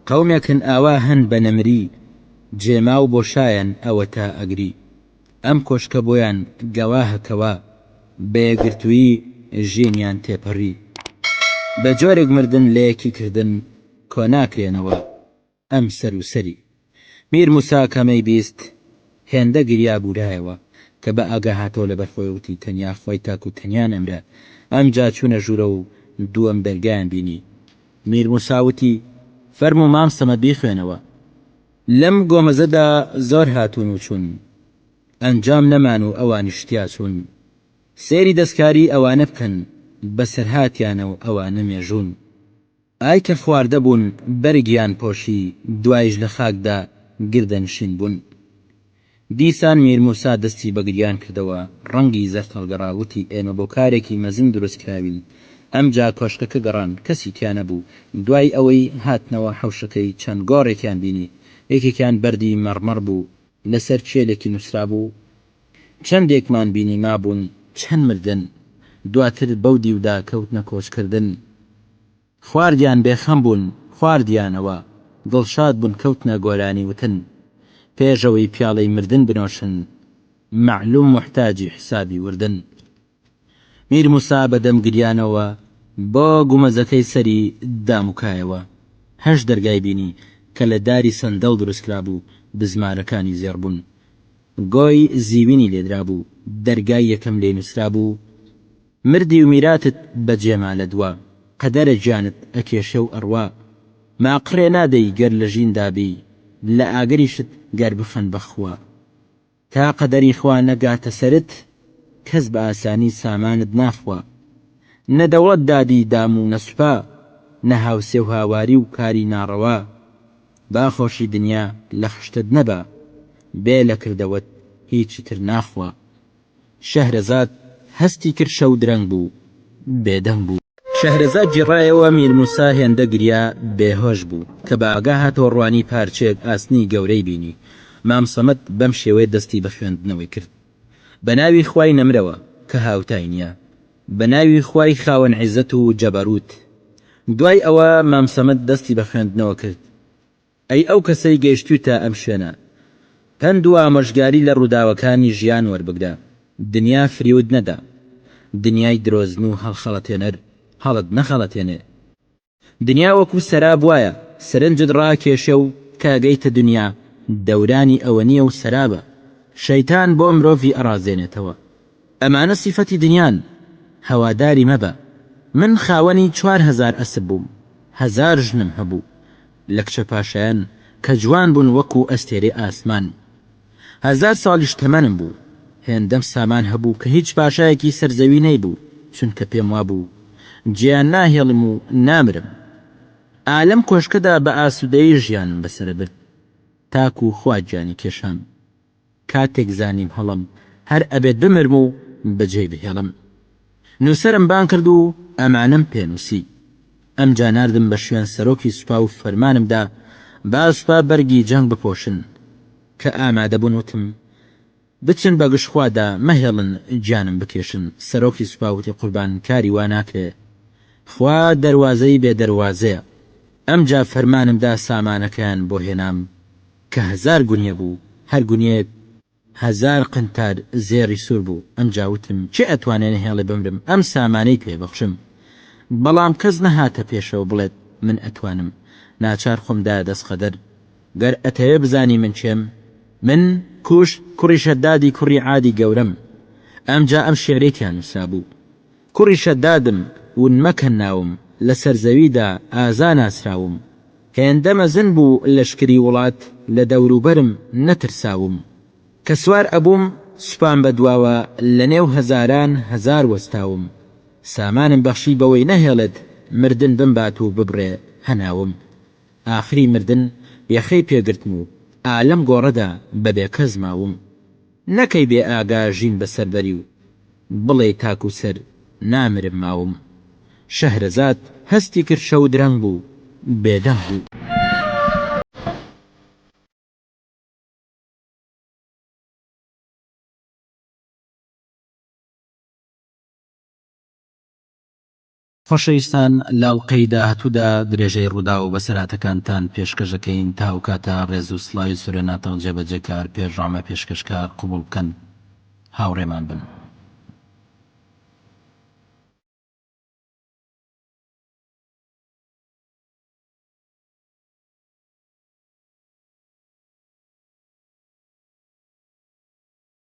قەومێک هەن ئاوا هەن بە نەمری جێماو بۆ شایەن ئەوەتا ئەگری ئەم کۆشکە بۆیان گەواهە کەوا بە یەکگرتوویی ژینیان تێپەری بە جۆرێک مردن لە یەکی کردن کۆناکرێنەوە ئەم سەر و سەری. میر موسا کە مەی بیست هێندە گریا بوورایەوە کە بە ئاگا هاتەوە لەبەر خۆی وتی تەنیا خوای تاک و تەنیا نەمرە ئەمجا چوونە ژوورە و دووەم دەرگایان بینی میر موسا وتی فەرموو مام سەمەد بیخوێنەوە لەم گۆمەزەدا زۆر هاتوون و چوون ئەنجام نەمان و ئەوانیش تیا چوون سەیری دەستکاری ئەوانە بکەن بەسەرهاتیانە و ئەوانە مێژوون. ئای کە خواردە بوون بەرگیان پۆشی دوایش لە خاکدا گردە نشین بوون. دیسان میر موسا دەستی بە گریان کردەوە ڕەنگی زەرد هەڵگەڕا وتی ئێمە بۆ کارێکی مەزن دروست کراوین. ئەمجا کۆشکەکە گەڕان کەسی تیا نەبوو. دوای ئەوەی هاتنەوە حەوشەکەی چەند گۆڕێکیان بینی یەکێکیان بەردی مەڕمەڕ بوو لەسەر کێلێکی نووسرابوو چەندێکمان بینی مابوون چەند مردن دواتر بەو دیودا کەوتنە کۆچکردن خواردیان بێخەم بوون خواردیانەوە دڵشاد بوون کەوتنە گۆرانی وتن پێشەوەی پیاڵەی مردن بنۆشن مەعلوم موحتاجی حسابی وردن. میر موسا بە دەم گریانەوە بۆ گومەزەکەی سەری دام و کایەوە. هەشت دەرگای بینی کە لە داری سەندەڵ دروست کرابوو، بزمارەکانی زێڕ بوون. گۆی زیوینی لێ درابوو، دەرگای یەکەم لێی نووسرابوو، مردی و میراتت بە جێ ما لە دوا، قەدەرە گیانت ئەکێشێ و ئەڕوا. ماقڕێ نادەی گەر لە ژیندا بی، لە ئاگریشت گەر بخەن بە خوا. تا قەدەری خوا نەگاتە سەرت کەس بە ئاسانی سامانت ناخوا. نە دەوڵەت دادی دام و نە سوپا، نە هاوسێ و هاواری و کاری ناڕەوا. با خۆشی دنیا لە خشتت نەبا، بێ لە کردەوەت هیچی تر ناخوا. شەهرەزاد هەستی کرد شەو درەنگ بوو، بێدەنگ بوو. شەهرەزاد جیڕایەوە، میرموسا هێندە گریا، بێهۆش بوو. کە بە ئاگا هاتەوە ڕوانی پارچەیەک ئاسنی گەورەی بینی. مام سەمەد بەم شێوەیە دەستی بە خوێندنەوەی کرد. بە ناوی خوای نەمرەوە کە هاوتای نییە. بە ناوی خوای خاوەن عیزەت و جەبەرووت. دوای ئەوە مام سەمەد دەستی بە خوێندنەوە کرد. ئەی ئەو کەسەی گەیشتوویتە ئەم شوێنە پەند و ئامۆژگاری لە ڕووداوەکانی ژیان وەربگرە دنیا فریوت نەدا دنیای درۆزن و هەڵخەڵەتێنەر هەڵت نەخەڵەتێنێ دنیا وەکو سەراب وایە سەرنجت ڕاکێشێ و کە ئەگەیتە دنیا دەورانی ئەوەنیە و سەرابە شەیتان بۆ مرۆڤی ئەڕازێنێتەوە ئەمانە سیفەتی دنیان هەواداری مەبە من خاوەنی چوار هەزار ئەسپ بووم هەزار ژنم هەبوو لە کچە پاشایان کە جوان بوون وەکوو ئەستێرەی ئاسمان. هەزار ساڵیش تەمەنم بوو. هێندەم سامان هەبوو کە هیچ پاشایەکی سەر زەوی نەیبوو، چونکە پێم وابوو جێیان ناهێڵم و نامرم. ئا لەم کۆشکەدا بە ئاسوودەیی ژیانم بەسەرە برد تاکوو خوا گیانی کێشام. کاتێک زانیم هەڵەم هەر ئەبێت بمرم و بەجێی بهێڵم نووسەرم بانگ کرد و ئەمانەم پێ نووسی. ئەمجا ناردم بە شوێن سەرۆکی سوپا و فەرمانم دا با سوپا بەرگی جەنگ بپۆشن. کە ئامادە بوون وتم بچن بە گژ خوادا مەهێڵن گیانم بکێشن، سەرۆکی سوپا وتی قوربان کاری وا ناکرێ خوا دەروازەی بێ دەروازەیە. ئەمجا فەرمانم دا سامانەکەیان بۆ هێنام. کە هەزار گونیە بوو هەر گونیەیەک هەزار قنتار زێڕی سوور بوو، ئەمجا وتم، کێ ئەتوانێ نەهێڵێ بمرم ئەم سامانەی پێ بەخشم؟ بەڵام کەس نەهاتە پێشەوە بڵێت من ئەتوانم، ناچار خۆم دایە دەست قەدەر، گەر ئەتەوێ بزانی من کێم؟ من، کوش، کوڕی شەدادی کوڕی عادی گەورەم، ئەمجا ئەم شیعرەی تیا نووسرابوو. کوڕی شەدادم، ون مەکەن ناوم، لە سەر زەویدا ئازا ناسراوم، هێندە مەزن بوو لەشکری وڵات، لە دەوروبەرم نەترساوم، کە سوار ئەبووم سوپام بە دواوە، لە نێو هەزاران هەزار وەستاوم، سامانم بەخشی بەوەی نەهێڵێت مردن بمبات و ببڕێ هەناوم، ئاخری مردن یەخەی پێ گرتم و ئا لەم گۆڕەدا بە بێ کەس ماوم، نەکەی بێ ئاگا ژین بە سەر بەری و. بڵێی تاکو سەر نامرم ماوم. شەهرەزاد هەستی کرد شەو درەنگ بوو بێدەنگ بوو. خۆشەویستان لە ئەڵقەی داهاتوودا درێژەی ڕووداو و بەسەرهاتەکانتان پێشکەش دەکەین، تا ئەوکاتە ڕێز و سڵاوی سورێناتەڵ جێبەجێکار، پێشڕامە پێشکەشکار قبوڵ بکەن. هاوڕێمان بن.